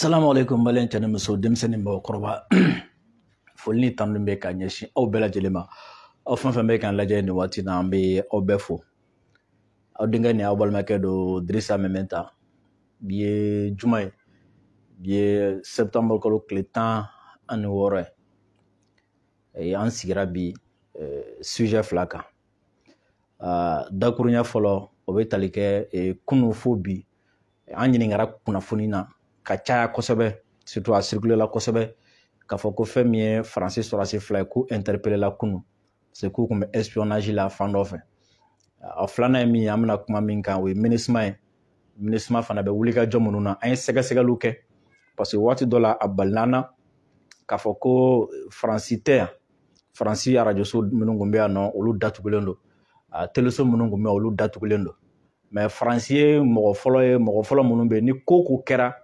salamu alaikum maliyɛn cɛ ni muso denmisɛnnin ni mɔgɔkɔrɔba foli ni tanu bɛ ka ɲɛsin aw bɛɛ lajɛlen ma aw fɛn fɛn bɛ k'an lajɛ nin waati na an bɛ aw bɛɛ fo aw denkɛ ni aw balimakɛ don dirisa meminta bi ye juma ye bi ye septembre kalo tile tan ani wɔɔrɔ ye an sigira bi sujet fila kan dakurunya fɔlɔ o bɛ tali kɛ kunu fo bi an ɲininkara kunnafoni na ka caya kosɛbɛ surtout a circuler la kosɛbɛ k'a fɔ ko fɛn min ye faransi sɔrɔsi fila ye k'u interpeller la kunu parce k'u tun bɛ espionage la fan dɔ fɛ a filanan ye min ye an bɛna kuma min kan o ye minusma ye minusma fana bɛ wuli ka jɔ minnu na an ye sɛgɛsɛgɛliw kɛ parce que waati dɔ la a balila an na k'a fɔ ko faransi tɛ yan faransi arajoso minnu tun bɛ yan nɔ olu datugulen don teleso minnu tun bɛ olu datugulen don mais faransi ye mɔgɔ fɔlɔ ye mɔgɔ fɔlɔ minnu bɛ yen ni ko o ko kɛra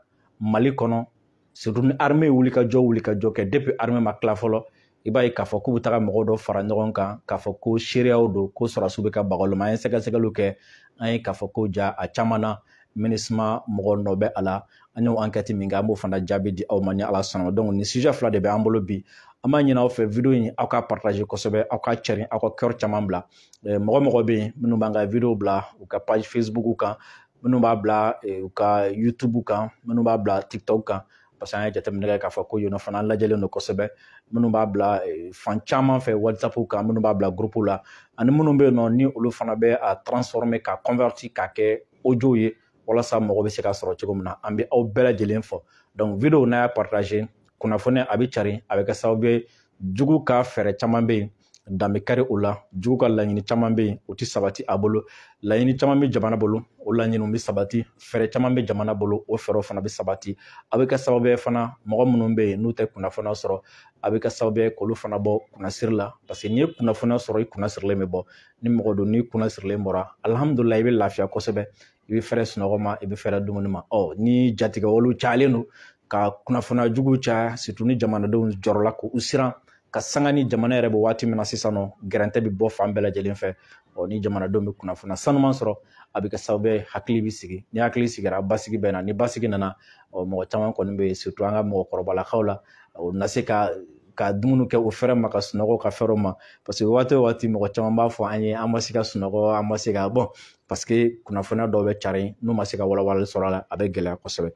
mali kɔnɔ surtout ni arme ye wuli ka jɔ wuli ka jɔ kɛ depuis arme ma tila fɔlɔ i b'a ye k'a fɔ k'u bɛ taga mɔgɔ dɔ fara ɲɔgɔn kan k'a fɔ ko seereyaw don ko sɔrɔdasiw bɛ ka baga olu ma an ye sɛgɛsɛgɛliw kɛ an ye k'a fɔ ko ja a caman na minusma mɔgɔ nɔ bɛ a la an y'o enquête min kɛ an b'o fana jaabi di aw ma ni ala sɔnna donc nin sujet fila de bɛ an bolo bi an b'a ɲini aw fɛ video in aw ka partager kosɛbɛ aw ka carin aw ka cœur caman bila mɔgɔ mɔgɔ bɛ yen minnu b'an ka video bila u ka page facebook kan minnu b'a bila u ka youtube kan minnu b'a bila tiktok kan parce que an ye jateminɛ kɛ k'a fɔ ko yen fana lajɛlen don kosɛbɛ minnu b'a bila fan caman fɛ whatsapp kan minnu b'a bila groupe la ani minnu bɛ yen nɔ ni olu fana bɛ a transformer ka convertir k'a kɛ audio ye walasa mɔgɔ bɛ se k'a sɔrɔ cogo min na an bɛ aw bɛɛ lajɛlen fo donc video n'a y'a partager kunnafoni a bɛ carin a bɛ kɛ sababu ye jugu ka fɛɛrɛ caman bɛ yen dan bɛ kari o la jugu ka laɲini caman bɛ yen o tɛ sabati a bolo laɲini caman bɛ jamana bolo o laɲiniw bɛ sabati fɛɛrɛ caman bɛ jamana bolo o fɛɛrɛw fana bɛ sabati a bɛ kɛ sababu ye fana mɔgɔ minnu bɛ yen n'u tɛ kunnafoniya sɔrɔ a bɛ kɛ sababu ye k'olu fana bɔ kunnasiri la parce que n'i ye kunnafoniya sɔrɔ i kunnasirilen bɛ bɔ ni mɔgɔ don n'i kunnasirilen bɔra alihamudulila i bɛ lafiya kosɛbɛ i bɛ fɛrɛ sunɔgɔ ma i bɛ fɛrɛ dumuni ma ɔ ni jatigɛwalew cayalen don ka kunnafoniya jugu caya surtout ni jamanadenw jɔrɔla k'u siran ka sanga ni jamana yɛrɛ bɛ waati min na sisan nɔ gɛrɛntɛ bɛ bɔ fan bɛɛ lajɛlen fɛ ɔ ni jamanadenw bɛ kunnafoniya sanuman sɔrɔ a bɛ kɛ sababu ye hakili bɛ sigi ni hakili sigira basigi bɛ na ni basigi nana ɔ mɔgɔ caman kɔni bɛ yen surtout an ka mɔgɔkɔrɔbalakaw la u na se ka ka dumuni kɛ u fɛrɛ ma ka sunɔgɔ ka fɛrɛ o ma parce que waati o waati mɔgɔ caman b'a fɔ an ye an ma se ka sunɔgɔ an ma se ka bon parce que kunnafoniya dɔw bɛ carin n'u ma se ka walawalali sɔrɔ a la a bɛ gɛlɛya kosɛbɛ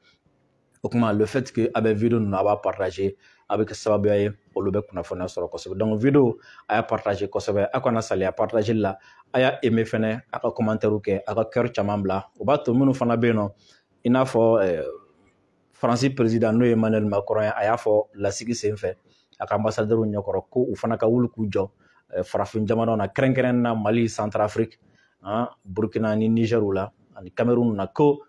o kuma le fait que a bɛ video ninnu a b'a partager a bɛ kɛ sababuya ye olu bɛ kunnafoniya sɔrɔ kosɛbɛ donc video a y'a partager kosɛbɛ a kana saliya partager la a y'a aimer fɛnɛ a ka commentaire kɛ a ka cœur caman bila o b'a to minnu fana bɛ yen nɔ i n'a fɔ faransi président n'o ye emmanuel macron ye a y'a fɔ lasigi senfɛ a ka ambassadeur ɲɛkɔrɔ ko u fana ka wuli k'u jɔ farafin jamanaw na kɛrɛnkɛrɛn na mali centrafrique burkina ni niger la ani cameroun na ko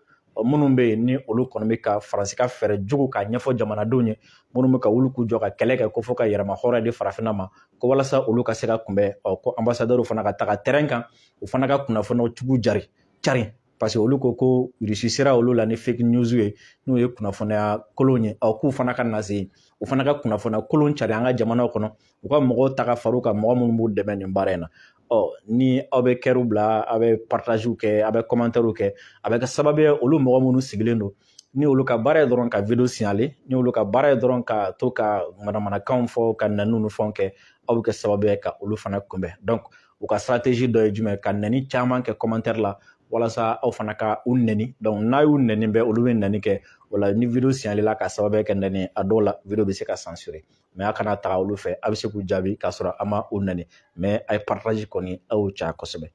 minnu bɛ yen ni olu kɔni bɛ ka faransi ka fɛɛrɛ jugu k'a ɲɛfɔ jamanadenw ye minnu bɛ ka wuli k'u jɔ ka kɛlɛ kɛ ko fo ka yɛrɛma hɔrɔn di farafinna ma ko walasa olu ka se ka kunbɛn ɔ ko ambassadeur fana ka taga terrain kan u fana ka kunnafoniw jugu cari carin parce que olu ko ko irisi sera olu la ni fake news ye n'o ye kunnafoniya kolon ye ɔ k'u fana ka na se u fana ka kunnafoniya kolon cari an ka jamanaw kɔnɔ u ka mɔgɔw ta ka fara u kan mɔgɔ minnu b'u dɛmɛ nin baara in na ɔ ni aw bɛ cœurw bila aw bɛ partagew kɛ aw bɛ commentairew kɛ a bɛ kɛ sababu ye olu mɔgɔ minnu sigilen don ni olu ka baara ye dɔrɔn ka video signaler ni olu ka baara ye dɔrɔn ka to ka manamanakanw fɔ ka nɛniw ni fɛnw kɛ aw bɛ kɛ sababu ye ka olu fana kunbɛn donc u ka stratégie dɔ ye jumɛn ka nɛni caman kɛ commentaire la walasa aw fana ka u nɛni donc n'a y'u nɛni bɛɛ olu bɛ nɛni kɛ o la ni video signaler la ka sababu kɛ nɛni a dɔw la video bɛ se ka censurer mais a kana taga olu fɛ a bɛ se k'u jaabi k'a sɔrɔ a ma u nɛni mais a ye partage kɔni a y'o caya kosɛbɛ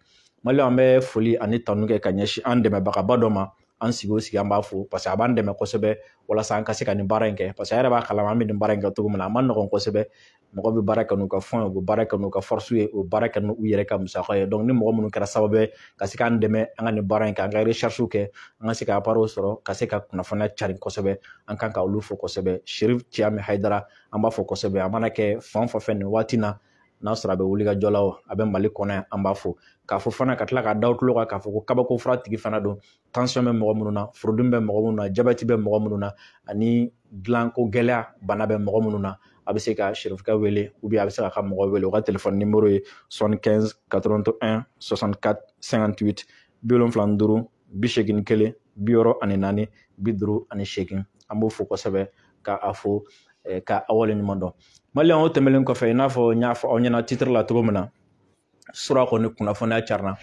maliyɛn an bɛ foli ani tanu kɛ ka ɲɛsin an dɛmɛbagaba dɔ ma an sigi o sigi an b'a fo parce que a b'an dɛmɛ kosɛbɛ walasa an ka se ka nin baara in kɛ parce que a yɛrɛ b'a kalama an bɛ nin baara in kɛ cogo min na a ma nɔgɔn kosɛbɛ mɔgɔ bɛ baara kɛ n'u ka fɛn ye u bɛ baara kɛ n'u ka forcew ye u bɛ baara kɛ n'u yɛrɛ ka musaka ye donc ni mɔgɔ minnu kɛra sababu ye ka se k'an dɛmɛ an ka nin baara in kɛ an ka recherche kɛ an ka se ka appareil sɔrɔ ka se ka kunnafoniya cari kosɛbɛ an kan ka olu fo kosɛbɛ cherif thiam haidara an b'a fo kosɛbɛ a mana kɛ fan fan fɛ nin waati na n'a sɔrɔ a bɛ wulikajɔ la a bɛ mali kɔnɔ yan an b'a fo k'a fo fana ka tila k'a da tulo kan k'a fɔ ko kabako fura tigi fana don tension bɛ mɔgɔ minnu na furudimi bɛ mɔgɔ minnu na jabɛti bɛ mɔgɔ minnu na ani dilanko gɛlɛya bana bɛ mɔgɔ minnu na a bɛ se ka cherifkɛ wele a bɛ se k'a ka mɔgɔ wele u ka telefɔni nimoro ye 75 81 64 58 bi wolonfila ni duuru bi seegin kelen bi wɔɔrɔ ani naani bi duuru ani seegin an b'o fo kosɛbɛ ka a fo ka a waleɲuman dɔn maliyɛn o tɛmɛnen kɔfɛ i n'a fɔ n y'a fɔ aw ɲɛna titiri la cogo min na sura kɔni kunnafoniya carinna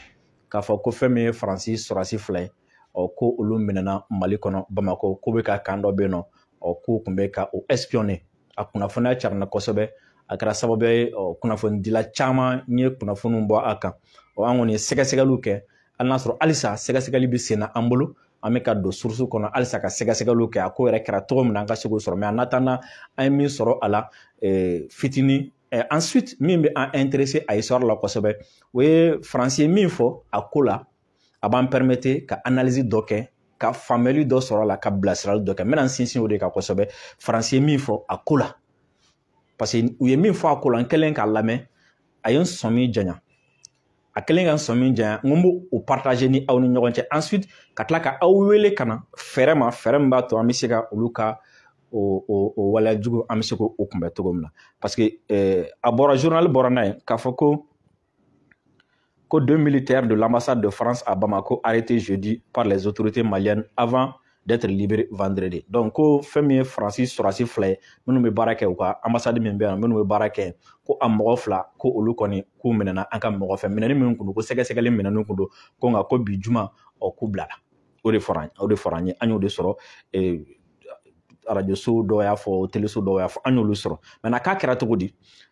k'a fɔ ko fɛn min ye faransi sɔrɔsi fila ye ɔ ko olu minɛna mali kɔnɔ bamakɔ k'u bɛ ka camp dɔ bɛ yen nɔ ɔ k'u tun bɛ ka o espionner a kunnafoniya carinna kosɛbɛ a kɛra sababu ye kunnafonidila caman ye kunnafoniw bɔ a kan ɔ an kɔni ye sɛgɛsɛgɛliw kɛ hali n'a sɔrɔ halisa sɛgɛsɛgɛli bɛ sen na an bolo an bɛ ka don source kɔnɔ halisa ka sɛgɛsɛgɛliw kɛ a ko yɛrɛ kɛra cogo min na an ka se k'o sɔrɔ mais en attendant an ye min sɔrɔ a la fitinin ensuite min bɛ an intéresser a histoire la kosɛbɛ o ye faransi ye min fɔ a ko la a b'an permettre ka analyse dɔ kɛ ka faamuyali dɔ sɔrɔ a la ka bilasirali dɔ kɛ n bɛna n sinsin o de kan kosɛbɛ faransi ye min fɔ a ko la parce que u ye min fɔ a ko la n kɛlen k'a lamɛn a ye n sɔmi janya a kɛlen ka n sɔmi janya n ko n b'o partager ni aw ni ɲɔgɔn cɛ ensuite ka tila ka aw wele ka na fɛɛrɛ ma fɛɛrɛ min b'a to an bɛ se ka olu ka o o o waleya jugu an bɛ se k'o kunbɛn cogo min na parce que a bɔra journal bɔra n'a ye k'a fɔ ko ko deux militaires de l'ambassade de France à Bamako arrêtés jeudi par les autorités maliennes avant d'être libérés vendredi. Donc, ko fɛn min ye Faransi sɔrɔsi fila ye minnu bɛ baara kɛ u ka ambassade min bɛ yan minnu bɛ baara kɛ ko a mɔgɔ fila ko olu kɔni k'u minɛna an ka mɔgɔ fɛ minɛni min kun don ko sɛgɛsɛgɛli minɛni kun don ko nka ko bi juma ɔ k'u bilala o de fɔra o de fɔra an ye an y'o de sɔrɔ ee, arajoso dɔw y'a fɔ teleso dɔw y'a fɔ an y'olu sɔrɔ maintenant k'a kɛra cogo di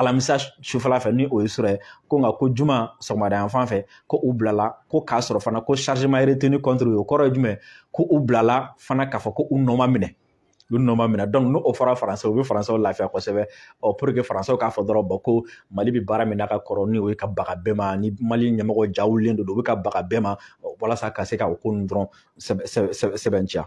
alamisa sufɛla fɛ ni o ye surɔ ye ko nka ko juma sɔgɔmada yan fan fɛ ko u bilala ko k'a sɔrɔ fana ko charge ma retenir contre o kɔrɔ ye jumɛn ko u bilala fana k'a fɔ ko u nɔ ma minɛ u nɔ ma minɛ donc n'o fɔra faransɛ o bɛ faransɛw lafiya kosɛbɛ ɔ pour que faransɛw k'a fɔ dɔrɔn bɔn ko mali bɛ baara min na ka kɔrɔ ni o ye ka baga bɛɛ ma ni mali ɲɛmɔgɔ ja wulilen don u bɛ ka baga bɛɛ ma walasa ka se ka o ko ninnu dɔrɔn sɛbɛntiya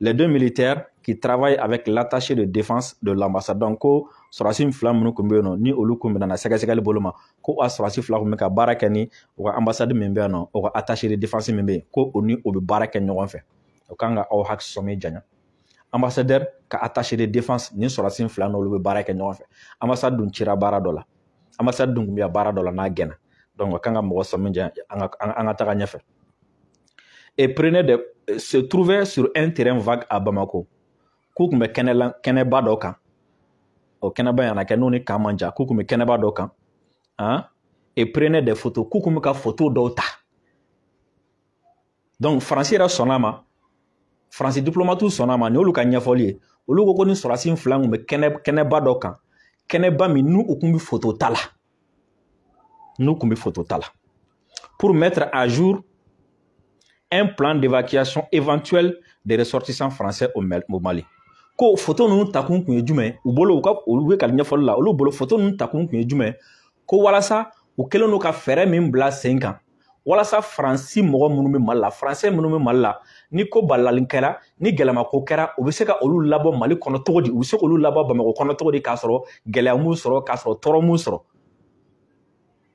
les deux militaires qui travaillent avec l'attaché de défense de l'ambassade donc ko sɔrɔsi fila minnu tun bɛ yen nɔ ni olu tun minɛna sɛgɛsɛgɛli bolo ma ko a sɔrɔsi fila tun bɛ ka baara kɛ ni u ka ambassade min bɛ yan nɔ o ka attaché de défense min bɛ yen ko o ni o bɛ baara kɛ ɲɔgɔn fɛ o kan ka aw hakili sɔmi janya ambassadeur ka attaché de défense ni sɔrɔsi fila n'olu bɛ baara kɛ ɲɔgɔn fɛ ambassade dun cira baara dɔ la ambassade dun tun bɛ baara dɔ la n'a gɛnna donc o kan ka mɔgɔ sɔmi janya an ka an ka taga ɲɛfɛ et prenaient de euh, se trouvaient sur un terrain vague à Bamako k'u tun bɛ kɛnɛba dɔ kan o kɛnɛba yana kɛ n'o ni camp man jan k'u tun bɛ kɛnɛba dɔ kan hein? et prenaient des photos k'u tun bɛ ka photo dɔw ta donc faransi yɛrɛ sɔnna a ma faransi diplomatiw sɔnna a ma nin y'olu ka ɲɛfɔli ye olu ko ko nin sɔrɔsi fila tun bɛ kɛnɛba dɔ kan kɛnɛba min n'u tun bɛ foto ta la n'u tun bɛ foto ta la pour mettre à jour un plan d'évacuation éventuel des ressortissants français au Mali ko foto ninnu takun tun ye jumɛn u bolo olu yɛrɛ ka ɲɛfɔli la olu bolo foto ninnu takun tun ye jumɛn ko walasa u kɛlen don ka fɛɛrɛ min bila sen kan walasa faransi mɔgɔ minnu bɛ mali la faransɛ minnu bɛ mali la ni ko balalen kɛra ni gɛlɛma ko kɛra u bɛ se ka olu labɔ mali kɔnɔ cogo di u bɛ se k'olu labɔ bamakɔ kɔnɔ cogo di k'a sɔrɔ gɛlɛya m'u sɔrɔ k'a sɔrɔ tɔɔrɔ m'u sɔrɔ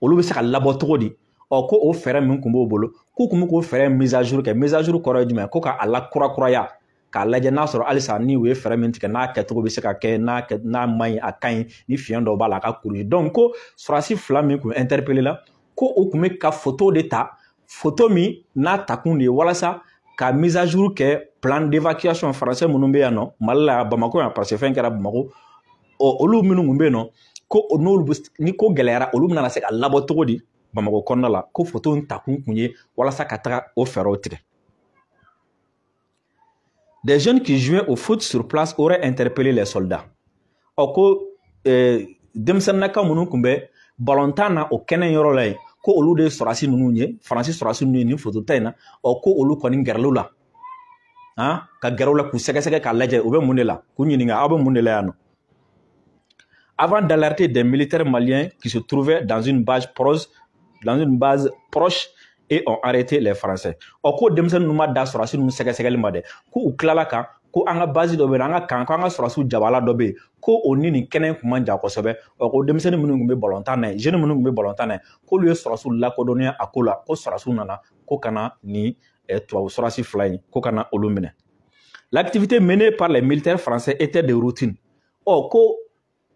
olu bɛ se ka labɔ cogo di ɔ ko o fɛɛrɛ min tun b'u bolo k'u tun bɛ k'o fɛɛrɛ mise à jour kɛ mise à jour kɔrɔ ye jumɛn ko k'a lakurakuraya k'a lajɛ n'a sɔrɔ halisa ni u ye fɛɛrɛ min tigɛ n'a kɛcogo bɛ se ka kɛ n'a kɛ n'a man ɲi a ka ɲi ni fiɲɛ dɔ b'a la a ka kuraya donc ko sɔrɔsi fila min kun interpellé la ko u kun bɛ ka foto de ta foto min n'a takun de ye walasa ka mise à jour kɛ plan d'évacuation français minnu bɛ yan nɔ mali la bamakɔ yan parce que fɛn kɛra bamakɔ ɔ olu minnu kun bɛ yen nɔ ko n'olu ni ko gɛlɛyara olu bɛna se ka labɔ cogo di bamakɔ kɔnɔna la ko foto in takun kun ye walasa ka taga o fɛɛrɛw tigɛ Des jeunes qui jouaient au foot sur place auraient interpellé les soldats. Ɔ ko eh, denmisɛnninnaka minnu kun bɛ balontan na o kɛnɛ yɔrɔ la yen ko olu de ye sɔrɔdasi ninnu ye faransi sɔrɔdasi ninnu ye nin fotota in na ɔ ko olu kɔni gɛrɛla u la han ka gɛrɛ u la k'u sɛgɛsɛgɛ k'a lajɛ u bɛ mun de la k'u ɲininka aw bɛ mun de la yan nɔ Avant d'alerter des militaires maliens qui se trouvaient dans une, dans une base proche et ont arrêté les Français. Ɔ ko denmisɛnnin ninnu ma dan sɔrɔsi ninnu sɛgɛsɛgɛli ma dɛ ko u tilala kan ko an ka base dɔ bɛ yen an ka kan ko an ka sɔrɔsiw jabala dɔ bɛ yen ko o ni nin kɛnɛ kun man jan kosɛbɛ ɔ ko denmisɛnnin minnu tun bɛ balontan na yen jeune minnu tun bɛ balontan na yen k'olu ye sɔrɔsiw lakodɔnniya a ko la ko sɔrɔsiw nana ko ka na nin tubabu sɔrɔsi fila in ko ka na olu minɛ L'activité menée par les militaires français était de routine. Ɔ ko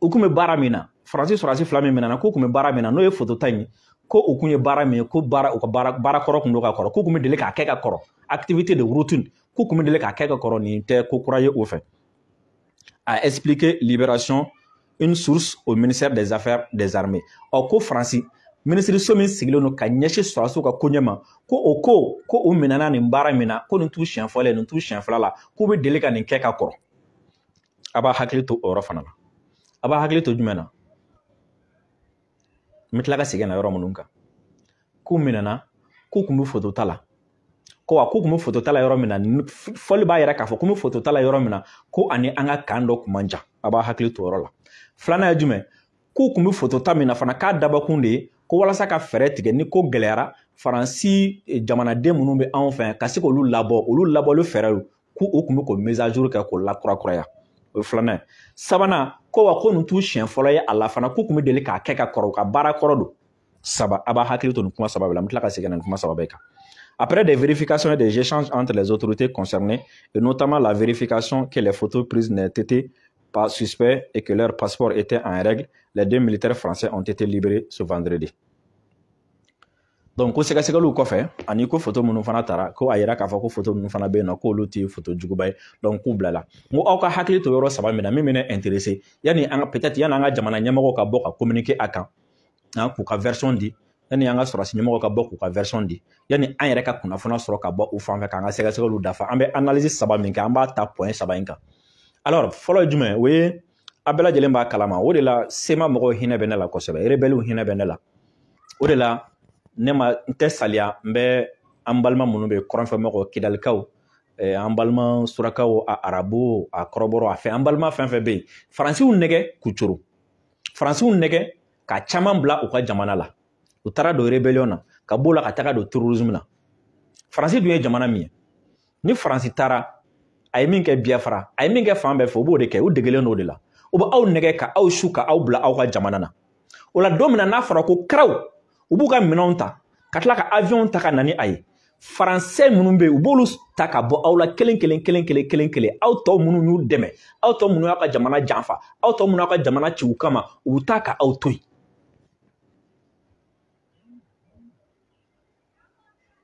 u kun bɛ baara min na faransi sɔrɔdasi fila min minɛna k'u kun bɛ baara min na n'o ye foto ta in ye ko u kun ye baara min ye ko baara u ka baara baara kɔrɔ kun don ka kɔrɔ k'u kun bɛ deli k'a kɛ ka kɔrɔ activité de routine k'u kun bɛ deli k'a kɛ ka kɔrɔ nin tɛ ko kura ye u fɛ a expliqué libération une source au ministère des affaires des armées ɔ ko faransi minisiriso min sigilen don ka ɲɛsin sɔrɔdasiw ka koɲɛ ma ko o ko ko u minɛna nin baara min na ko nin t'u siɲɛ fɔlɔ ye nin t'u siɲɛ fila la k'u bɛ deli ka nin kɛ ka kɔrɔ a b'a hakili to o yɔrɔ fana la a b'a hakili to jumɛn na n bɛ tila ka segin na yɔrɔ minnu kan k'u minɛna k'u kun bɛ foto ta la ko wa k'u kun bɛ foto ta la yɔrɔ min na fɔli b'a yira k'a fɔ k'u bɛ foto ta la yɔrɔ min na ko a ni an ka kan dɔ kun man jan a b'a hakili to o yɔrɔ la filanan ye jumɛn k'u kun bɛ foto ta min na fana k'a dabɔkun de ye ko walasa ka fɛɛrɛ tigɛ ni ko gɛlɛyara faransi eh, jamanaden minnu bɛ anw fɛ ka se k'olu labɔ olu labɔli fɛɛrɛw k'u kun bɛ k'o mise à jour kɛ k'o lakurakuraya o ye filanan ye sabanan ko wa ko nin t'u siɲɛ fɔlɔ ye a la fana k'u kun bɛ deli k'a kɛ ka kɔrɔ u ka baara kɔrɔ don saba a b'a hakili to nin kuma saba bɛɛ la n bɛ tila ka segin ka na nin kuma saba bɛɛ kan Après des vérifications et des échanges entre les autorités concernées, et notamment la vérification que les photos prises n'étaient pas suspectes et que leur passeport était en règle, les deux militaires français ont été libérés ce vendredi. donc ko sɛgɛsɛgɛliw kɔfɛ ani ko foto minnu fana tara ko a yira k'a fɔ ko foto minnu fana bɛ yen nɔ k'olu tɛ foto juguba ye donc k'u bilala n ko aw ka hakili to yɔrɔ saba min na min bɛ ne intéresser yanni an ka peut-être yanni an ka jamana ɲɛmɔgɔw ka bɔ ka communiquer a kan k'u ka version di yanni an ka sɔrɔdasi ɲɛmɔgɔw ka bɔ k'u ka version di yanni an yɛrɛ ka kunnafoniya sɔrɔ ka bɔ u fan fɛ k'an ka sɛgɛsɛgɛliw dafa an bɛ analyse saba min kɛ an b'a ta point saba in kan alors fɔlɔ ye jumɛn o ye a bɛɛ lajɛlen b'a kalama o de la CMA mɔgɔw hinɛ bɛ ne la kosɛbɛ rebɛliw hinɛ bɛ ne la o de la ne ma n tɛ saliya n bɛ an balima minnu bɛ kɔrɔnfɛ mɔgɔ kidalikaw eh, an balima surakaw a arabu a kɔrɔbɔrɔ a fɛ an balima fɛn fɛn bɛ yen faransi y'u nɛgɛ k'u coro faransi y'u nɛgɛ ka caman bila u ka jamana la u taara don rebellion na ka b'o la ka taga don terrorisme na faransi dun ye jamana min ye ni faransi taara a ye min kɛ biafra a ye min kɛ fan bɛɛ fɛ u b'o de kɛ u degelen don o de la u bɛ aw nɛgɛ ka aw su ka aw bila aw ka jamana na o la don min na n'a fɔra ko karaw u b'u ka minɛnw ta ka tila ka aviɔn ta ka na ni a ye faransɛ minnu bɛ yen u b'olu ta ka bɔ aw la kelen kelen kelen kelen kelen kelen aw tɔ minnu y'u dɛmɛ aw tɔ minnu y'aw ka jamana janfa aw tɔ minnu y'aw ka jamana ci u kama u bɛ taa ka aw to yen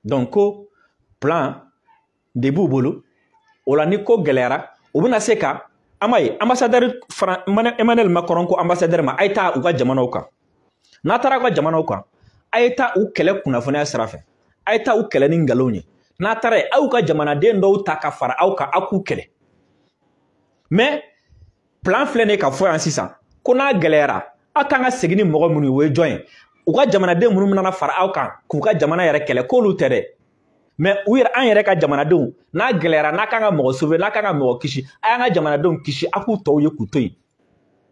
donc ko plan de b'u bolo o la ni ko gɛlɛyara u bɛna se ka an b'a ye ambassadɛri fara emmanuel macron ko ambassadɛri ma a ye taa u ka jamanaw kan n'a taara u ka jamanaw kan a ye taa u kɛlɛ kunnafoniya sira fɛ a ye taa u kɛlɛ ni nkalonw ye n'a taara yen aw ka jamanaden dɔw ta ka fara aw kan aw k'u kɛlɛ mais plan filɛ nin k'a fɔ yan sisan ko n'a gɛlɛyara aw kan ka segin ni mɔgɔ minnu ye o ye jɔn ye u ka jamanaden minnu nana fara aw kan k'u ka jamana yɛrɛ kɛlɛ k'olu tɛ dɛ mais u yɛrɛ an yɛrɛ ka jamanadenw n'a gɛlɛyara n'a kan ka mɔgɔ sauver n'a kan ka mɔgɔ kisi a y'an ka jamanadenw kisi a k'u tɔw ye k'u to yen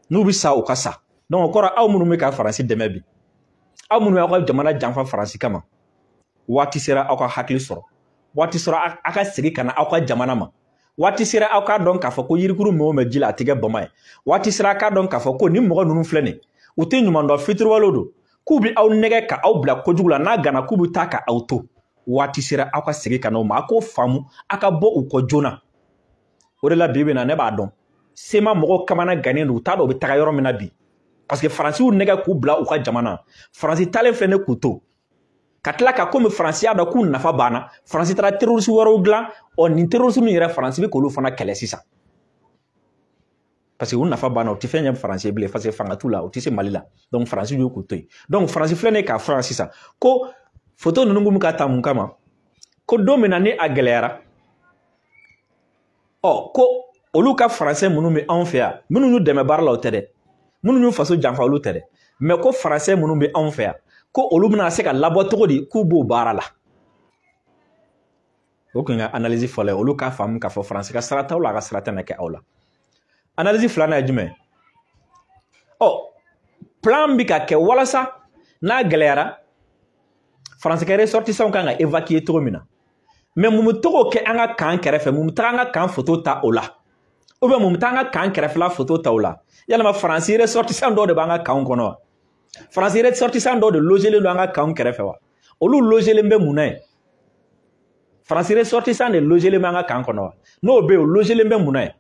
n'u bɛ sa u ka sa donc o kɔrɔ aw minnu bɛ ka faransi dɛmɛ bi aw minnu y'aw ka jamana janfa faransi kama waati sera aw ka hakili sɔrɔ waati sera aw ka segin ka na aw ka jamana ma waati sera aw k'a dɔn k'a fɔ ko yirikuru mɛn o mɛn ji la a tɛ kɛ bama ye waati sera aw k'a dɔn k'a fɔ ko nin mɔgɔ ninnu filɛ nin u tɛ ɲuman dɔn fitiriwalew don k'u bɛ aw nɛgɛ ka aw bila kojugu la n'a ganna k'u bɛ taa ka aw to waati sera aw ka segin ka n'o ma a k'o faamu a ka bɔ u kɔ joona o de la bi bi in na ne b'a dɔn CMA mɔgɔw kamana gannen don u t'a dɔn u bɛ taga yɔrɔ min na bi parce que faransi y'u nɛgɛ k'u bila u ka jamana faransi taalen filɛ nin k'u to ka tila ka komi faransi y'a dɔn k'u nafa banna faransi taara terorisi wɛrɛw dilan ɔ nin terorisi ninnu yɛrɛ faransi bɛ k'olu fana kɛlɛ sisan parce que u nafa banna u tɛ fɛn ɲɛ faransi ye bilen parce que fanga t'u la u tɛ se mali la donc faransi y'u k'u to yen donc faransi filɛ nin k'a fɔ yan sisan ko foto ninnu bɛ ka ta mun kama ko don min na ni a gɛlɛyara ɔ ko olu ka faransɛ minnu bɛ anw fɛ yan minnu y'u dɛmɛ baara la o tɛ dɛ minnu y'u faso janfa olu tɛ dɛ mais ko faransɛ minnu bɛ anw fɛ yan ko olu bɛna se ka labɔ cogo di k'u b'o baara la o kun ka analyse fɔlɔ ye olu k'a faamu k'a fɔ faransi ka sara t'aw la a ka sara tɛna kɛ aw la analyse filanan ye jumɛn ɔ plan bɛ ka kɛ walasa n'a gɛlɛyara faransi ka ressortissant kan ka évacuer cogo min na mais mun bɛ to k'o kɛ an ka kan kɛrɛfɛ mun bɛ taga an ka kan foto ta o la ou bien mun bɛ taa an ka kan kɛrɛfɛla foto ta o la yalima faransi ressortissant dɔw de b'an ka kanw kɔnɔ wa faransi ressortissant dɔw de lojelen don an ka kanw kɛrɛfɛ wa olu lojelen bɛ mun na yen faransi ressortissant de lojelen bɛ an ka kan kɔnɔ wa n'o bɛ yen o lojelen bɛ mun na yen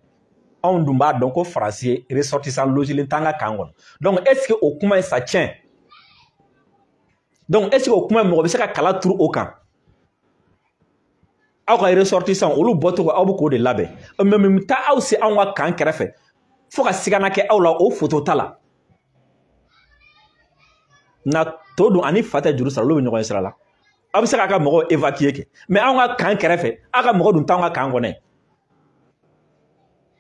anw dun b'a dɔn ko faransi ressortissant lojelen t'an ka kan kɔnɔ donc est ce que o kuma in ça tient donc est ce que o kuma mɔgɔ bɛ se ka kala turu o kan aw ka ressortissant olu bɔcogo aw bɛ k'o de labɛn mais mun bɛ taa aw se anw ka kan kɛrɛfɛ fo ka sigana kɛ aw la o foto ta la nka to don ani fa tɛ juru sara olu bɛ ɲɔgɔn ye sira la aw bɛ se k'a ka mɔgɔw évacuer kɛ mais anw ka kan kɛrɛfɛ aw ka mɔgɔ dun t'anw ka kan kɔnɔ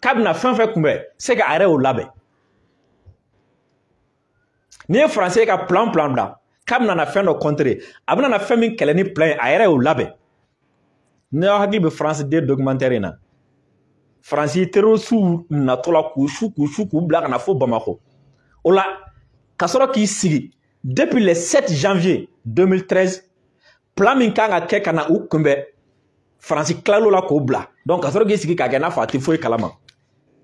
k'a bɛna fɛn fɛn kunbɛn c'est que a yɛrɛ y'o labɛn n'i ye faransi ye ka plan plan bila k'a bɛna na fɛn dɔ contrer a bɛna na fɛn min kɛlɛ ni plan ye a yɛrɛ y'o labɛn n'aw hakili bɛ france 2 documentaire in na faransi terorisiw natɔ la k'u su k'u su k'u bila ka na fo bamakɔ o la ka sɔrɔ k'i sigi depuis le 7 janvier 2013 plan min kan ka kɛ ka na u kunbɛn faransi tilal'o la k'o bila donc ka sɔrɔ k'i sigi k'a kɛ n'a fɔ a tɛ foyi kalama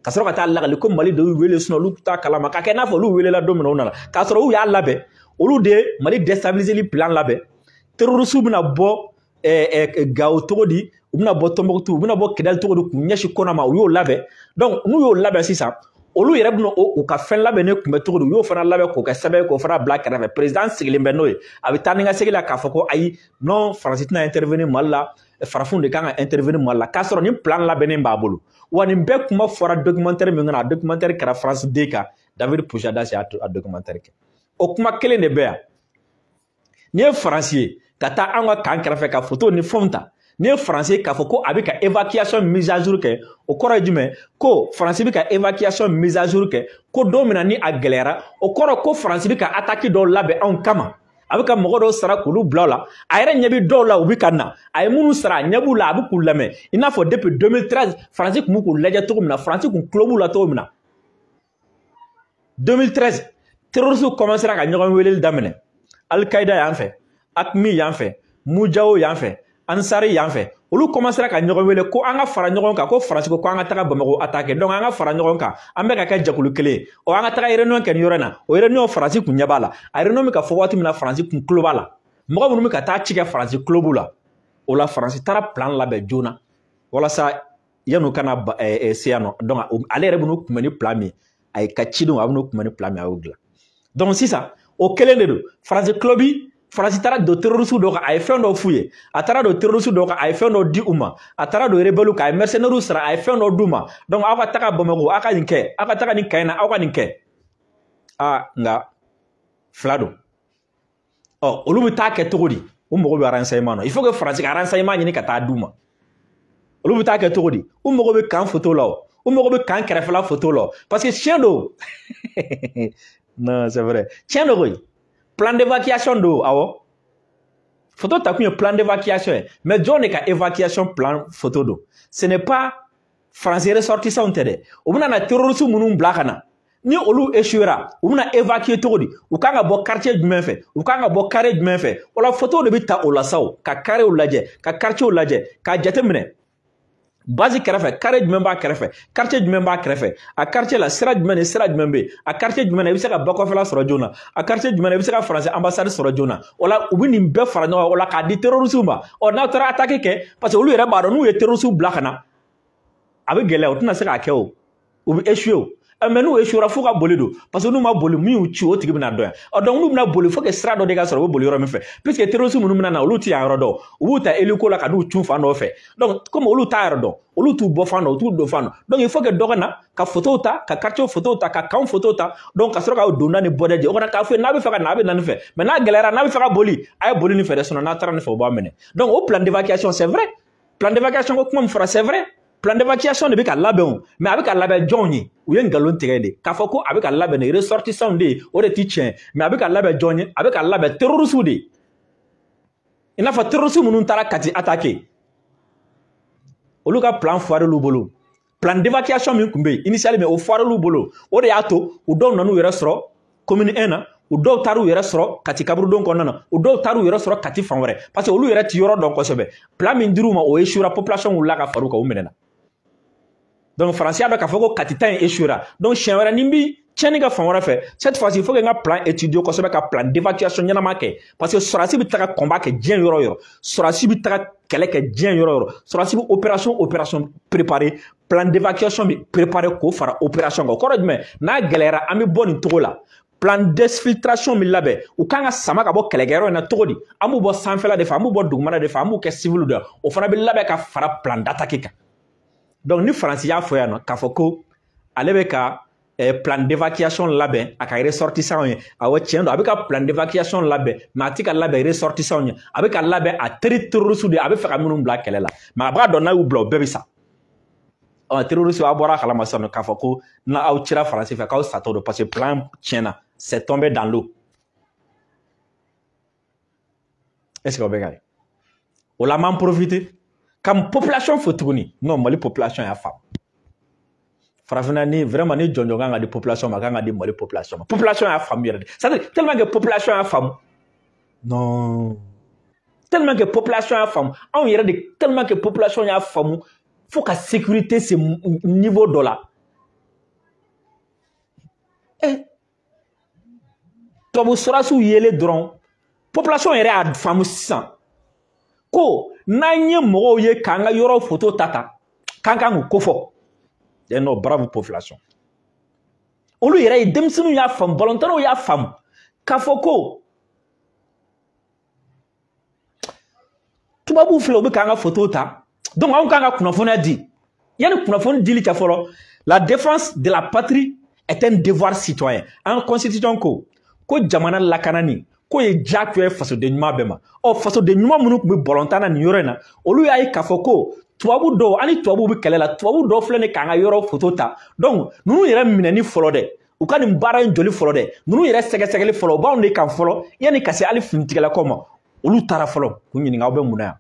ka sɔrɔ ka taa lagali ko mali de y'u wele sinon olu t'a kalama ka kɛ n'a fɔ olu welela don min na u nana k'a sɔrɔ u y'a labɛn olu de ye mali destabiliseli plan labɛn terorisiw bɛna bɔ eh, eh, gawo cogo di u bɛna bɔ tombouctou u bɛna bɔ kidali cogo di k'u ɲɛsin kɔna ma u y'o labɛn donc n'u y'o labɛn sisan olu yɛrɛ bɛna u ka fɛn labɛnnen kunbɛn cogo di u y'o fana labɛn k'o kɛ sɛbɛn ye k'o fana bila kɛrɛfɛ perezidan sigilen bɛ n'o ye a bɛ taa ni ka segin la k'a fɔ ko ayi non faransi tɛna intervenir mali la farafinw de kan ka intervenir mali la k'a sɔrɔ nin plan labɛnnen b'a bolo wa nin bɛɛ kuma fɔra documentaire min kɔnɔ a documentaire kɛra france 2 kan david pujadas y'a documentaire kɛ o kuma kelen de bɛ yan n'i ye faransi ye ka taa an ka kan kɛrɛfɛ ka foto ni fɛnw ta n'i ye faransi ye k'a fɔ ko a bɛ ka évacuation mise à jour kɛ o kɔrɔ ye jumɛn ko faransi bɛ ka évacuation mise à jour kɛ ko don min na ni a gɛlɛyara o kɔrɔ ko faransi bɛ ka attaque dɔw labɛn anw kama a bɛ ka mɔgɔ dɔw sara k'olu bila o la a yɛrɛ ɲɛ bɛ dɔw la u bɛ ka na a ye minnu sara a ɲɛ b'u la a bɛ k'u lamɛn i n'a fɔ depuis 2013 faransi tun bɛ k'u lajɛ cogo min na faransi tun tulo b'u la cogo min na 2013 terroristes commencera ka ɲɔgɔn weleli daminɛ alikaida y'an fɛ akmi y'an fɛ mujawo y'an fɛ ansari y'an fɛ olu commencera ka ɲɔgɔn wele ko an ka fara ɲɔgɔn kan ko faransi ko an ka taga bamako attaquer donc an ka fara ɲɔgɔn kan an bɛ ka kɛ jɛkulu kelen ye ɔ an ka taga réunion kɛ ni yɔrɔ in na o réunion faransi kun ɲɛ b'a la a réunion bɛ ka fɔ waati min na faransi kun tulo b'a la mɔgɔ minnu bɛ ka taa ci kɛ faransi tulo b'u la o la faransi taara plan labɛn joona walasa yan'u ka na se yan nɔ donc ale yɛrɛ bɛn'u kunbɛn ni plan min ye a ye ka cidenw a bɛn'u kunbɛn ni plan min a y'o dilan donc sisan o kelen de don faransi tulo bi faransi taara don terorisi dɔw kan a ye fɛn dɔ f'u ye a taara don terorisi dɔw kan a ye fɛn dɔ di u ma a taara don rebɛliw kan a ye mercenaires sara a ye fɛn dɔ d'u ma donc aw ka taga bamako aw ka nin kɛ aw ka taga nin kan in na aw ka nin kɛ aa nka fila don ɔ olu bɛ taa kɛ cogo di u mago bɛ renseignement na il faut que faransi ka renseignement ɲini ka taa d'u ma olu bɛ taa kɛ cogo di u mago bɛ kan foto la o u mago bɛ kan kɛrɛfɛla foto la parce que tiɲɛ don non c'est vrai tiɲɛ don koyi plan d'évacuation don awɔ foto takun ye plan d'évacuation ye mais jɔn de ka évacuation plan foto don ce n'est pas faransi ressortissants tɛ dɛ u bɛna na terroriste minnu bila ka na ni olu échouera u bɛna évacuer cogo di u kan ka bɔ quartier jumɛn fɛ u kan ka bɔ carré jumɛn fɛ o la photo de bɛ ta walasa u ka carréw lajɛ ka quartierw lajɛ k'a jateminɛ base kɛrɛfɛ carré jumɛn b'a kɛrɛfɛ quartier jumɛn b'a kɛrɛfɛ a quartier la sira jumɛn ni sira jumɛn bɛ yen a quartier jumɛn na i bɛ se ka bakɔfɛla sɔrɔ joona a quartier jumɛn na i bɛ se ka faransi ambassade sɔrɔ joona o la u bɛ nin bɛɛ fara ɲɔgɔn kan o la k'a di terorisiw ma ɔ n'aw taara ataki kɛ parce que olu yɛrɛ b'a dɔn n'u ye terorisiw bila ka na a bɛ gɛlɛya u tɛna se k'a kɛ o u bɛ échouer o eh, mais n'u échouera f'u ka boli don parce que n'u ma boli min y'u ci o tigi bɛna dɔn yan ɔ donc n'u bɛna boli faut que sira dɔ de ka sɔrɔ u bɛ boli yɔrɔ min fɛ puisque terorisi minnu bɛna na olu tɛ yan yɔrɔ dɔn u b'u ta eliko la ka n'u cun fan dɔ fɛ donc komi olu t'a yɔrɔ dɔn olu t'u bɔ fan dɔn u t'u don fan dɔn donc il faut que dɔ ka na ka fotow ta ka quartier fotow ta ka kanw fotow ta donc ka sɔrɔ ka donda ni bɔda jɛ o kana k'a fɔ n'a bɛ fɛ ka na a bɛ na nin fɛ mais n'a gɛlɛyara n'a bɛ fɛ ka boli a ye boli nin fɛ dɛ sinon n'a taara nin fɛ o b'a minɛ donc o plan d'évacuation c'est vrai plan d'évacuation ko kuma min fɔra c'est vrai plan d'évacuation de bɛ ka labɛn o mais a bɛ ka labɛn jɔnw ye u ye nkalon tigɛ de k'a fɔ ko a bɛ ka labɛn de ressortissants de ye o de ti tiɲɛ mais a bɛ ka labɛn jɔn ye a bɛ ka labɛn terroristes de ye i n'a fɔ terroriste minnu taara kati attaquer olu ka plan foirel'u bolo plan d'évacuation min tun bɛ yen initialement o foirel'u bolo o de y'a to u dɔw nan'u yɛrɛ sɔrɔ commune 1 na u dɔw taar'u yɛrɛ sɔrɔ kati kaburudon kɔnɔna na u dɔw taar'u yɛrɛ sɔrɔ kati fan wɛrɛ parce que olu yɛrɛ ti yɔrɔ dɔn kosɛbɛ plan min dir'u ma o échouera population wulila ka far'u kan u minɛna donc faransi a bɛ k'a fɔ ko kati ta in échouera donc siɲɛ wɛrɛ ni n bi tiɲɛni kɛ fan wɛrɛ fɛ cette fois il faut que n ka plan étudier kosɛbɛ ka plan d'évacuation ɲɛnama kɛ parce que sɔrɔdasi bɛ taga combat kɛ diɲɛ yɔrɔ yɔrɔ sɔrɔdasi bɛ taga kɛlɛ kɛ diɲɛ yɔrɔ yɔrɔ sɔrɔdasi bɛ opération opération préparer plan d'évacuation bɛ préparer k'o fara opération kan o kɔrɔ jumɛn n'a gɛlɛyara an bɛ bɔ nin cogo la plan d'exfiltration bɛ labɛn u kan ka sama ka bɔ kɛlɛkɛyɔrɔ in na cogo di an b'u bɔ sanfɛla de fɛ an b'u bɔ dugumana de fɛ an b'u kɛ civil de o fana bɛ labɛn ka fara plan d'attaque kan donc ni faransi y'a fɔ yan non k'a fɔ ko ale bɛ ka eh, plan d'évacuation labɛn a ka ressortissant ye awɔ tiɲɛ don a bɛ ka plan d'évacuation labɛn mais a tɛ k'a labɛn ressortissant ye a bɛ k'a labɛn a teri terroriste de a bɛ fɛ ka minnu bila kɛlɛ la mais a b'a dɔn n'a y'u bila u bɛɛ bɛ sa ɔ terroriste a bɔra a kalama sisan non k'a fɔ ko n'aw cira faransi fɛ k'aw satɔ don parce que plan tiɲɛna c'est tombé dans l'eau est-ce que aw bɛ k'a ye o la an b'an profiter ka population fo tuguni non mali population y'a faamu farafinna ni vraiment ni jɔnjɔn kan ka di population ma a kan ka di mali population ma population y'a faamu yɛrɛ de c'est à dire tellement que population y'a faamu non tellement que population y'a faamu anw yɛrɛ de tellement que population y'a faamu fo ka sécurité se niveau dɔ la eh tubabu sɔrasiw yelen dɔrɔn population yɛrɛ y'a faamu sisan ko n'an ye mɔgɔw ye k'an ka yɔrɔ foto ta ta k'an kan k'u kofɔ dɛ non bravo population olu yɛrɛ ye denmisɛnninw y'a faamu balontannaw y'a faamu k'a fɔ ko tubabuw filɛ u bɛ k'an ka foto ta donc anw kan ka kunnafoniya di yanni kunnafoni dili cɛ fɔlɔ la défense de la patrie est un devoir citoyen an ka constitution ko ko jamana lakanani k'o ye diyagoya ye fasoden ɲuman bɛɛ ma ɔ fasoden ɲuman minnu tun bɛ balontan na nin yɔrɔ in na olu y'a ye k'a fɔ ko tubabu dɔw an ni tubabuw bɛ kɛlɛ la tubabu dɔw filɛ nin k'an ka yɔrɔ foto ta donc ninnu yɛrɛ minɛni fɔlɔ dɛ u ka nin baara in jɔli fɔlɔ dɛ ninnu yɛrɛ sɛgɛsɛgɛli fɔlɔ u b'anw de kan fɔlɔ yanni ka se hali finitigilakaw ma olu taara fɔlɔ k'u ɲininka aw bɛ mun na yan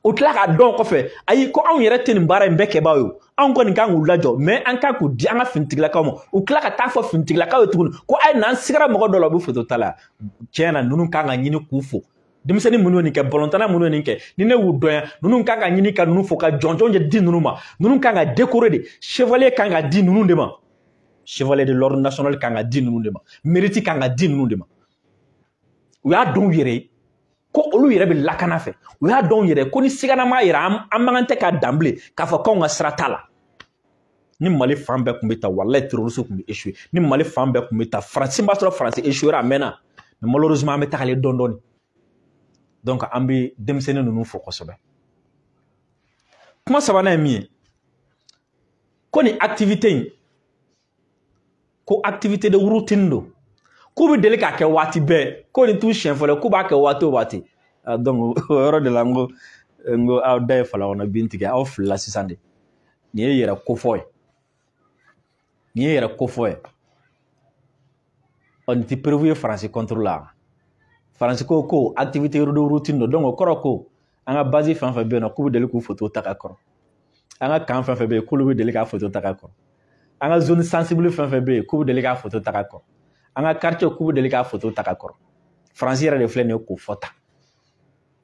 u tila k'a dɔn kɔfɛ ayi ko anw yɛrɛ tɛ nin baara in bɛɛ kɛbaa ye anw kɔni kan k'u lajɔ mais an kan k'u di an ka finitigilakaw ma u tila ka taa fɔ finitigilakaw ye tuguni ko ayi n'an sigara mɔgɔ dɔ la u bɛ foto ta la tiɲɛ na ninnu kan ka ɲini k'u fo denmisɛnnin minnu ye nin kɛ balontanna minnu ye nin kɛ ni ne y'u dɔn yan ninnu kan ka ɲini ka ninnu fo ka jɔnjɔn de di ninnu ma ninnu kan ka décorer de chevalier kan ka di ninnu de ma chevalier de l'ordre national kan ka di ninnu de ma mérite kan ka di ninnu de ma u y'a dɔn u yɛrɛ ye ko olu yɛrɛ bɛ lakana fɛ u y'a dɔn yɛrɛ ko ni siganama yera an man kan tɛ ka dan bilen k'a fɔ k'anw ka sira t'a la ni mali fan bɛɛ tun bɛ tan walayi terroriste tun bɛ échouer ni mali fan bɛɛ tun bɛ tan faransi b'a sɔrɔ faransi échouera a mɛnna mais malheureusement an bɛ tagalen dɔɔni dɔɔni donc an bɛ denmisɛnnin ninnu fo kosɛbɛ kuma sabanan ye min ye ko nin activité in ko activité de routine don k'u bɛ deli k'a kɛ waati bɛɛ ko nin t'u siɲɛ fɔlɔ k'u b'a kɛ waati o waati donc o yɔrɔ de la n ko n ko aw da ye fala kɔnɔ bin tigɛ aw filila sisan de nin ye yɛrɛ kofɔ ye nin ye yɛrɛ kofɔ ye ɔ nin tɛ preuve ye faransi contre la faransi ko ko activité de routine don donc o kɔrɔ ko an ka base fɛn fɛn bɛ yen nɔ k'u bɛ deli k'u foto ta ka kɔrɔ an ka camp fɛn fɛn bɛ yen k'olu bɛ deli k'a foto ta ka kɔrɔ an ka zone sensible fɛn fɛn bɛ yen k'u bɛ deli k'a foto ta ka kɔrɔ an ka quartier k'u bɛ deli k'a foto ta ka kɔrɔ faransi yɛrɛ de filɛ nin ye k'o fɔ tan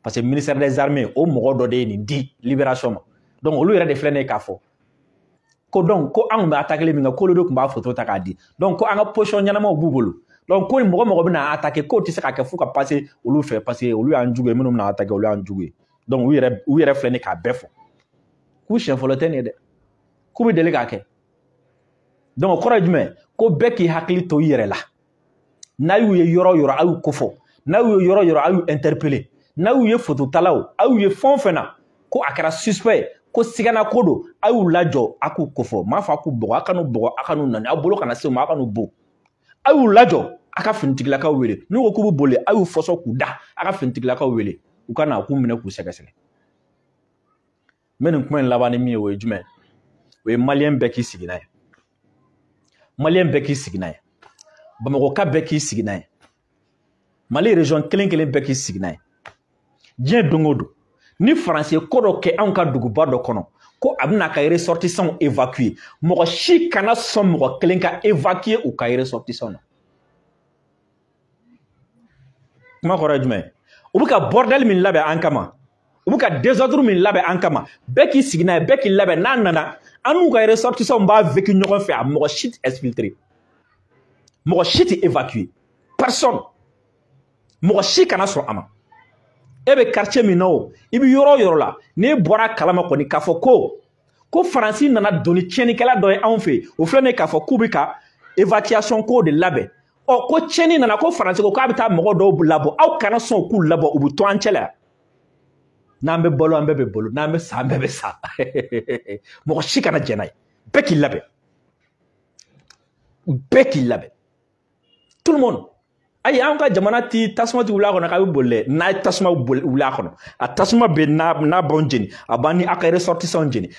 parce que ministère des armées o mɔgɔ dɔ de ye nin di libération ma donc olu yɛrɛ de filɛ nin ye k'a fɔ ko donc ko an kun bɛ atakeli min kɛ k'olu de tun b'a foto ta k'a di donc ko an ka position ɲɛnamaw b'u bolo donc ko mɔgɔ mɔgɔ bɛna attaquer k'o tɛ se ka kɛ f'u ka passer olu fɛ parce que olu y'an jugu ye minnu bɛna attaquer olu y'an jugu ye donc u yɛrɛ u yɛrɛ filɛ nin k'a bɛɛ fɔ k'u siɲɛ fɔlɔ tɛ nin ye dɛ k'u bɛ deli k'a kɛ donc o kɔrɔ ye jumɛn ko bɛɛ k'i hakili to i yɛrɛ la n'a y'u ye yɔrɔ yɔrɔ a y'u kofɔ n'a y'u ye yɔrɔ yɔrɔ a y'u interpeller n'a y'u ye fototalaw a y'u ye fɛn o fɛn na ko a kɛra suspect ko sigana ko don a y'u lajɔ a k'u kofɔ n m'a fɔ a k'u bugɔ a kan'u bugɔ a kan'u nɛni aw bolo kana se u ma a kan'u bon a y'u lajɔ a ka finitigilakaw wele n'u ko k'u bɛ boli a y'u fɔsɔ k'u da a ka finitigilakaw wele u ka na k'u minɛ k'u sɛgɛsɛgɛ n bɛ nin kuma in laban ni min ye o ye jumɛn o ye maliyɛn bɛɛ k'i sigi n'a ye maliyɛn bɛɛ k'i sigi n'a ye bamakɔka bɛɛ k'i sigi n'a ye mali région kelen kelen bɛɛ k'i sigi n'a ye diɲɛ don o don ni faransi ye ko dɔ kɛ anw ka duguba dɔ kɔnɔ ko a bɛn'a ka ressortissants évacuer mɔgɔ si kana sɔn mɔgɔ kelen ka évacuer u ka ressortissants na kuma kɔrɔ ye jumɛn u bɛ ka bordel min labɛn an kama u bɛ ka désordre min labɛn an kama bɛɛ k'i sigi n'a ye bɛɛ k'i labɛn n'a nana an n'u ka ressortissants b'a vécu ɲɔgɔn fɛ a mɔgɔ si tɛ exfiltrer mɔgɔ si tɛ évacuer personne mɔgɔ si kana sɔn a ma e bɛ quartier min na o i bɛ yɔrɔ o yɔrɔ la n'e bɔra kalama kɔni k'a fɔ ko ko faransi nana don ni tiɲɛnikɛla dɔ ye anw fɛ yen o filɛ nin ye k'a fɔ k'u bɛ ka évacuation ko de labɛn ɔ ko tiɲɛni nana ko faransi ko k'a bɛ taa mɔgɔ dɔw labɔ aw kana sɔn k'u labɔ u bɛ to an cɛ la yan n'an bɛ balo an bɛɛ bɛ balo n'an bɛ sa an bɛɛ bɛ sa mɔgɔ si kana jɛn n'a ye bɛɛ k'i labɛn bɛɛ k'i labɛn tout le monde ayi an ka jamana ti tasuma ti wuli a kɔnɔ k'a bɛ boli dɛ n'a ye tasuma wuli a kɔnɔ a tasuma bɛ n'a n'a b'anw jeni a b'an ni a ka ressortissants jeni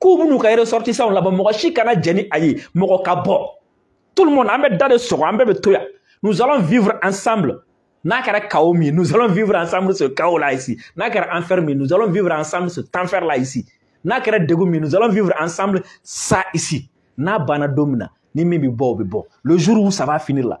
k'u bɛn'u ka ressortissants labɔ mɔgɔ si kana jɛn ni a ye mɔgɔ ka bɔ tout le monde an bɛ da de sɔgɔ an bɛɛ bɛ to yan nous allons vivre ensemble n'a kɛra chaos min ye nous allons vivre ensemble ce chaos là ici n'a kɛra enfer min nous allons vivre ensemble ce enfer là ici n'a kɛra degun min ye nous allons vivre ensemble ça ici n'a banna don min na ni min bɛ bɔ o bɛ bɔ le jour où ça va finir là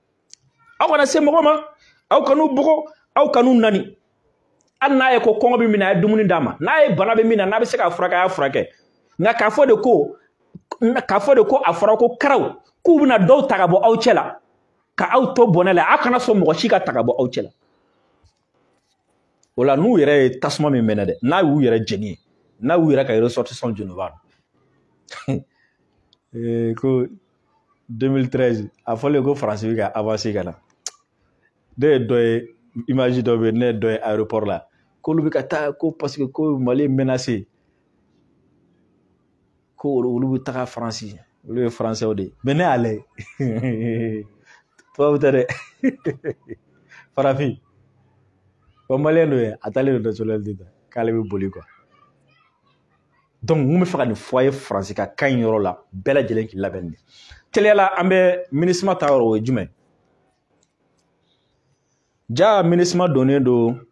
aw kana se mɔgɔ ma aw kan'u bugɔ aw kan'u neni hali n'a ye ko kɔngɔ bɛ min na a ye dumuni d'a ma n'a ye bana bɛ min na n'a bɛ se k'a furakɛ a y'a furakɛ nka k'a fɔ de ko k'a fɔ de ko a fɔra ko karaw k'u bɛna dɔw ta ka bɔ aw cɛ la ka aw to bɔnɛ la aw kana sɔn mɔgɔ si ka ta ka bɔ aw cɛ la o la n'u yɛrɛ ye tasuma min mɛnɛ dɛ n'a y'u yɛrɛ jeni ye n'a y'u yɛrɛ ka ressortissant jeni u b'a dɔn ko 2013 a fɔlen ko faransi bɛ ka avanse ka na ne ye dɔ ye imaji dɔ bɛ yen ne ye dɔ ye aéroport la k'olu bɛ ka taa ko paseke ko mali est menacé ko olu bɛ taga faransi olu ye faransɛw de ye mɛ ne y'a lajɛ tubabu tɛ dɛ farafin ko maliyɛn dɔ ye a taalen don nationalité ta k'ale bɛ boli quoi donc mun bɛ fɛ ka nin fɔ a ye faransi ka kan in yɔrɔ la bɛɛ lajɛlen k'i labɛn de teliya la an bɛ minusma ta yɔrɔ o ye jumɛn ja minusma donnen don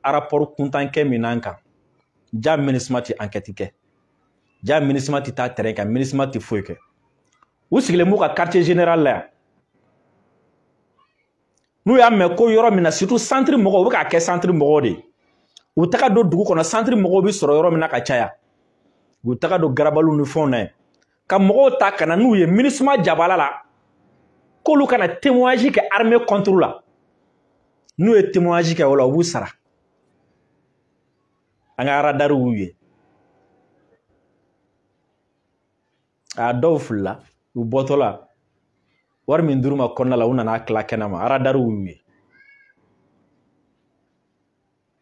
arapɔri kuntan kɛ min n'an kan ja minusma tɛ ankɛti kɛ ja minusma tɛ taa tɛrɛn kan minusma tɛ foyi kɛ u sigilen b'u ka quartier général la yan n'u y'a mɛn ko yɔrɔ min na surtout santiri mɔgɔw u bɛ k'a kɛ santiri mɔgɔw de ye u taga don dugu kɔnɔ santiri mɔgɔw bɛ sɔrɔ yɔrɔ min na ka caya u taga don garabaliw ni fɛnw na yen ka mɔgɔw ta ka na n'u ye minusma jabala la k'olu ka na témoignage kɛ armée contre la n'u ye témoignage kɛ o la u b'u sara an ka radariw y'u ye a dɔw filila u bɔtɔla wari min dir'u ma kɔnɔna la u nan'a tila kɛnɛ ma aradariw y'u ye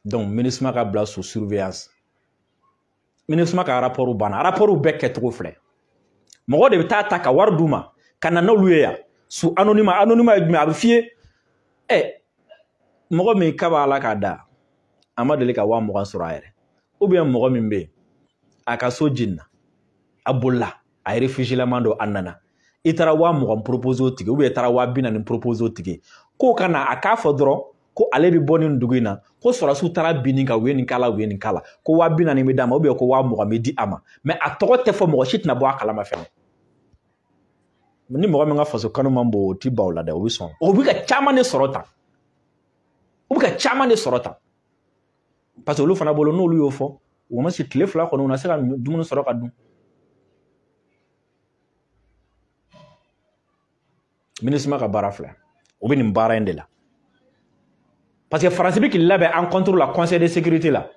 donc minusma ka bila sous surveillance minusma ka rapport banna rapport bɛɛ kɛcogo filɛ mɔgɔ de bɛ taa ta ka wari d'u ma ka na n'olu ye yan sous anonymat anonymat ye jumɛn a bɛ f'i ye ɛ mɔgɔ min kabi ala k'a da a ma deli ka waa mugan sɔrɔ a yɛrɛ ou bien mɔgɔ min bɛ yen a ka so jenina a bolila a ye réfugiélama don a nana i taara waa mugan propose o tigi ou bien i taara waa bi naani propose o tigi k'o ka na a k'a fɔ dɔrɔn ko ale bɛ bɔ nin dugu in na ko sɔrɔdasiw taara bin nin kan u ye nin k'a la u ye nin k'a la ko waa bi naani bɛ d'a ma ou bien ko waa mugan bɛ di a ma mɛ a tɔgɔ tɛ fɔ mɔgɔ si tɛna bɔ a kalama fɛnɛ ni mɔgɔ min ka faso kanu man bon o ti ban o la dɛ o bɛ sɔn o bɛ ka caman de sɔrɔ tan u bɛ ka caman de sɔrɔ tan parce que olu fana bolo n'olu y'o fɔ u ma se tile fila kɔnɔ u na se ka dumuni sɔrɔ ka dun minusma ka baara filɛ o bɛ nin baara in de la parce que faransi bɛ k'i labɛn an contre la conseil de sécurité la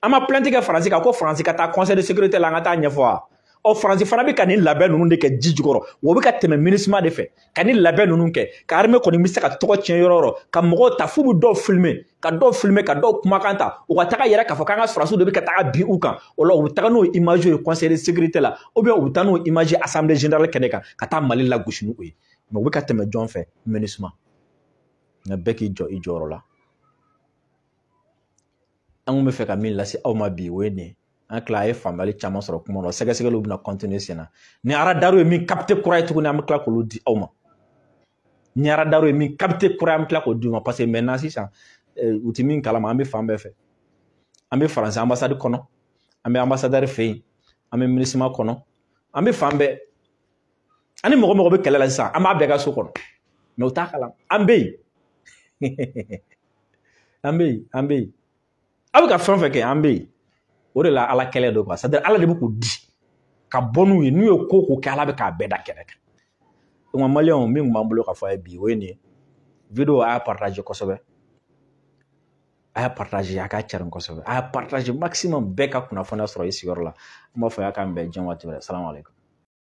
an ma plainte kɛ faransi kan ko faransi ka taa conseil de sécurité la an ka taa ɲɛfɔ wa ɔ faransi fana bɛ ka nin labɛn ninnu de kɛ ji jukɔrɔ o bɛ ka tɛmɛ minusma de fɛ ka nin labɛn ninnu kɛ ka armée kɔni bɛ se ka tɔgɔ tiɲɛ yɔrɔ o yɔrɔ ka mɔgɔw ta f'u bɛ dɔw filmer ka dɔw filime ka dɔw kumakan ta u ka taga yɛrɛ k'a fɔ k'an ka sɔrɔsiw de bɛ ka taga bin u kan o la u bɛ taga n'o image ye conseil de sécurité la ou bien u bɛ taa n'o image ye assemblée générale kɛnɛ kan ka taa mali lagosi n'u ye mais u bɛ ka tɛmɛ jɔn fɛ minusma nka bɛɛ k'i jɔ i jɔyɔrɔ la an kun bɛ fɛ ka min lase aw ma bi o ye nin ye an tila a ye faamuyali caman sɔrɔ kuma na sɛgɛsɛgɛliw bɛna continuer sen na ni aradariw ye min capter kura ye tuguni an bɛ tila k'olu di aw ma ni aradari ye min capter kura ye an bɛ tila k'o d'u ma parce que maintenant sisan eh, u tɛ min kalama an bɛ fan bɛɛ fɛ an bɛ faransi anbasadi kɔnɔ an bɛ anbasadɛri fɛ yen an bɛ minusma kɔnɔ an bɛ fan bɛɛ an ni mɔgɔ mɔgɔ bɛ kɛlɛ la sisan an b'a bɛɛ ka so kɔnɔ mais u t'a kalama an bɛ yen an bɛ yen an bɛ yen aw bɛ ka fɛn o fɛn kɛ an bɛ yen o de la ala kɛlɛ don c'est à dire ala de bɛ k'u di ka bɔ n'u ye n'u ye ko ko kɛ ala bɛ k'a bɛɛ da kɛnɛ kan o ma maliyɛnw min tun b'an bolo ka fɔ a ye bi o ye nin ye video a y'a partager kosɛbɛ a y'a partager a k'a carin kosɛbɛ a y'a partager maximum bɛɛ ka kunnafoniya sɔrɔ i sigiyɔrɔ la an b'a fɔ a ye k'an bɛn diɲɛ waati wɛrɛ salamu aleykum